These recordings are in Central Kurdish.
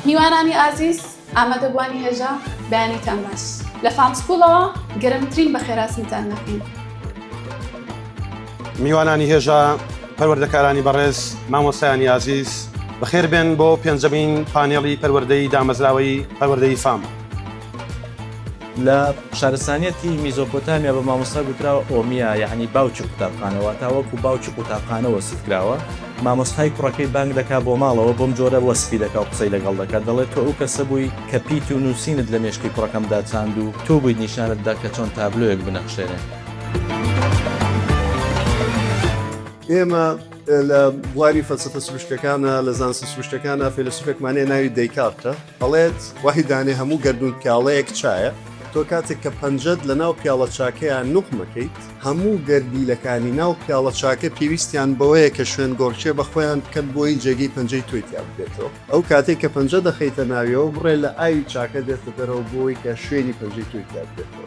میوانانی ئازیز ئامادەبووانی هێژا بەیانیتان باش لە فام سکوڵەوە گەرمترین بەخێراسنتان نەکەین میوانانی هێژا پەروەردەکارانی بەڕێز مامۆسایانی ئازیز بەخێر بێن بۆ پێنجەمین پانێڵی پەروەردەی دامەزراوەی پەروەردەی فام. لە شارستانیەتی میزۆپۆتامیا بە مامۆستا گوتراوە ئۆمیا یعنی باوکی قوتابخانەوە تا وەکو باوکی قوتابخانە وەسف کراوە مامۆستای کوڕەکەی بانگ دەکا بۆ ماڵەوە بۆم جۆرە وەسفی دەکا و قسەی لەگەڵ دەکات دەڵێت تۆ ئەو کەسە بووی کە پیت و نووسینت لە مێشکی کوڕەکەمدا چاند و تۆ بوویت نیشانت دا کە چۆن تابلۆیەک بنەخشێنێ. ئێمە لە بواری فەلسەفە سروشتەکانا لە زانستە سروشتەکانا فەیلەسوفێکمان هەیە ناوی دەیکارتە، ئەڵێت وەحی دانێ هەموو گەردوون پیاڵەیەک چایە، تۆ کاتێک کە پەنجەت لە ناو پیاڵە چاکەیا نوقم ئەکەیت، هەموو گەردیلەکانی ناو پیاڵە چاکە پێویستیان بەوەیە کە شوێن گۆڕکێ بە خۆیان بکەن بۆی جێگەی پەنجەی تۆی تیا ببێتەوە، ئەو کاتەی کە پەنجە دەخەیتە ناویەوە بڕێ لە ئاوی چاکە دێتە دەرەوە بۆی کە شوێنی پەنجەی تۆی تیا ببێتەوە.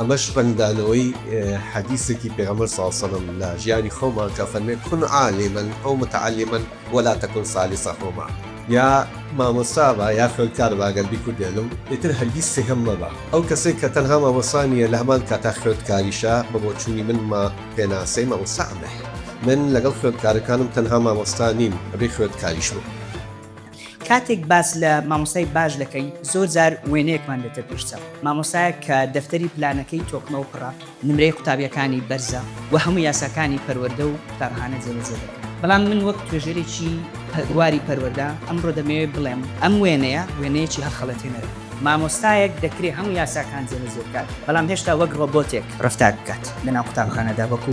ئەمەش ڕەنگدانەوەی حەدیسێکی پێغەمبەر صلی اللە علیە و سلم لە ژیانی خۆمان کە فەرمێ کن عالما او متعلما ولا تکن ثالثهما یا مامۆستا بە یا خوێندکار بە گەر بیکوردێنم ئیتر هەرگیز سێهەم مەبە ئەو کەسەی کە تەنها مامۆستا نیە لە هەمان کاتا خوێندکاریشە بە بۆچونی من مە پێناسەی مامۆستا ئەمەیە من لەگەڵ خوێندکارەکانم تەنها مامۆستا نیم ئەبێ خوێندکاریش بم. کاتێک باس لە مامۆسای باش دەکەین زۆر جار وێنەیەکمان دێتە پێشچە مامۆسایە کە دەفتەری پلانەکەی تۆکمە و پڕە نمرەی قوتابیەکانی بەرزە و هەموو یاساکانی پەروەەردە و قوتابخانە جێبەجێ دەکەن بەڵام من وەک توێژەرێکی پەرواری پەروەەردە ئەمڕۆ دەمەوێت بڵێم ئەم وێنەیە وێنەیەکی هەخەڵەتێنەر مامۆستایەک دەکرێ هەموو یاساکان جێبەجێ بکات بەڵام هێشتا وەک ڕۆبۆتێک ڕفتار بکات لەناو قوتابخانەدا وەکو